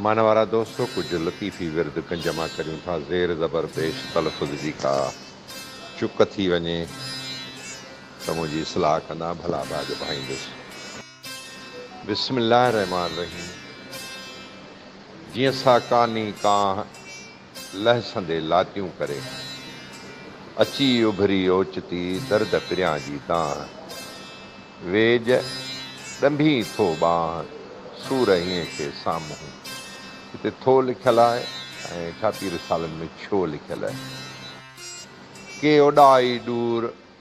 معنيٰ وارا دوستو! ڪجهه لطيفي ورد گنج مان ڪريون ٿا، زير زبر پيش تلفظ جي ڪا چڪ ٿي وڃي ته منهنجي اصلاح ڪندا، ڀلا ڀاڳ ڀائيندس. بسم الله الرحمٰن الرحيم جيئن ساڪاني ڪانه لهسندي لاتيون ڪري، اچي اڀري اوچتي درد پريان جي دانهن. ويڄ ڏنڀي ٿو ٻانهن سور هينء کي سامهون. هتي ٿو لکيل آهي ۽ ڇاپي رسالن ۾ ڇو لکيل. ڪي اوڏاهي ڏور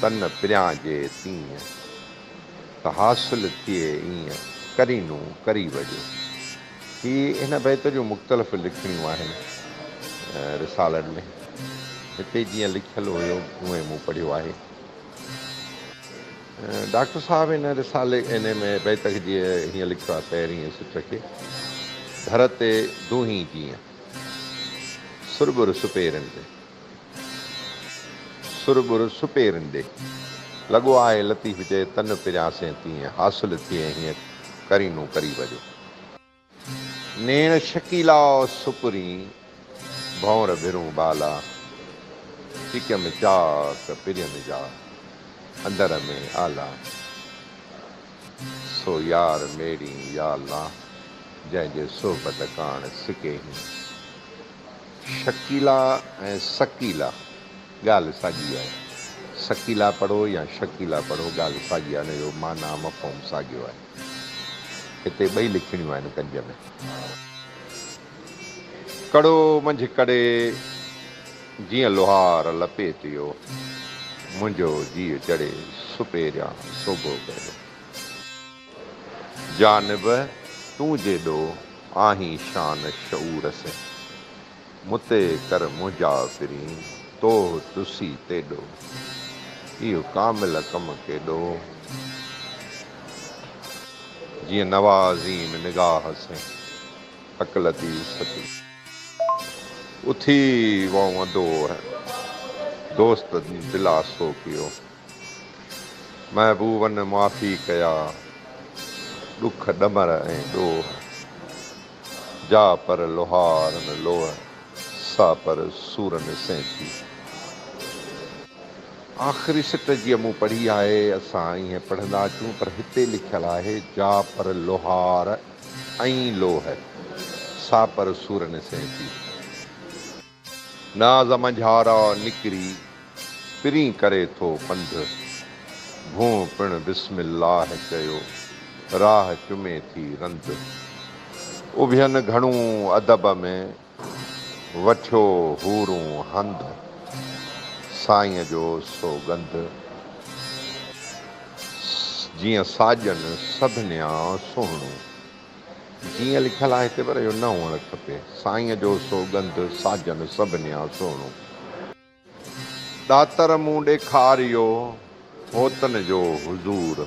تن پريان جي تيئن، ته حاصل ٿئي ايئن، ڪرينو ڪري وڄو. هي هن بيت جون مختلف لکڻيون آهن رسالن ۾. هتي جيئن لکيل هيو، اونئن مون پڙهيو آهي. ڊاڪٽر صاحب هن رسالي هن ۾ بيت کي جيئن هيئن لکيو آهي، پهرينء سٽ کي، ڌر تي دونهين جيئن، سرٻر سپيرن تي. سر ٻر سپيرن ڏي. لڳو آهي لطيف چئي تن پريان سين تيئن حاصل ٿئي هيئن قرينون قريب جو. نيڻ شڪيلا سپرين ڀونر ڀرون بالا چڪيم چاڪ پرين جا اندر ۾ آلا سو يار ميڙين يا الله جنهن جي صحبت ڪاڻ سڪي هين. شڪيلا ۽ سڪيلا ڳالهه ساڳي آهي. سڪيلا پڙهو يا شڪيلا پڙهو ڳالهه ساڳي آهي ان جو معنيٰ مفهوم ساڳيو آهي. هتي ٻئي لکڻيون آهن ڪنج ۾. ڪڙو منجهه ڪڙي جيئن لوهار لپيٽيو منهنجو جيء چڙي سپيريان سوگهو ڪيو. جانب تون جيڏو آهين شان شعور سين. مون تي ڪر منهنجا پرين توه تسي تيڏو. اهو ڪامل ڪم ڪيڏو جيئن نوازين نگاهه سين. حق لطيف سچ ڳالهه اٿي وئون ادو دوست دلاسو ڪيو. محبوبن معافي ڪيا، ڏک ڏمر ۽ ڏوهه. جا پر لوهارن لوهه، سا پر سورن سين ٿي. آخري سٽ جيئن مون پڙهي آهي، اسان ائين پڙهندا اچون، پر هتي لکيل آهي، جا پر لوهار ۽ لوهه، سا پر سورن سين ٿي. ناز منجهارا نڪري پرين ڪري ٿو پنڌ، ڀونء پڻ بسم الله چيو راهه چمي ٿي رند. اڀين گهڻون ادب ۾ وٺيو حورون هنڌ، سائينء جو سوڳنڌ جيئن ساڄن سڀنيان سهڻون. جيئن لکيل آهي هتي پر اهو نه هئڻ کپي. سائينء جو سوڳنڌ ساجن سڀنيان سهڻو. ڏاتر مون ڏيکاريو هوتن جو حضور.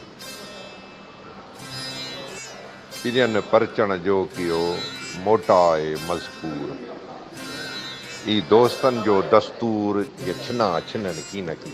پرين پرچڻ جو ڪيو موٽاء مذڪور. اي دوستن جو دستور جي ڇنان ڇنن ڪين ڪي.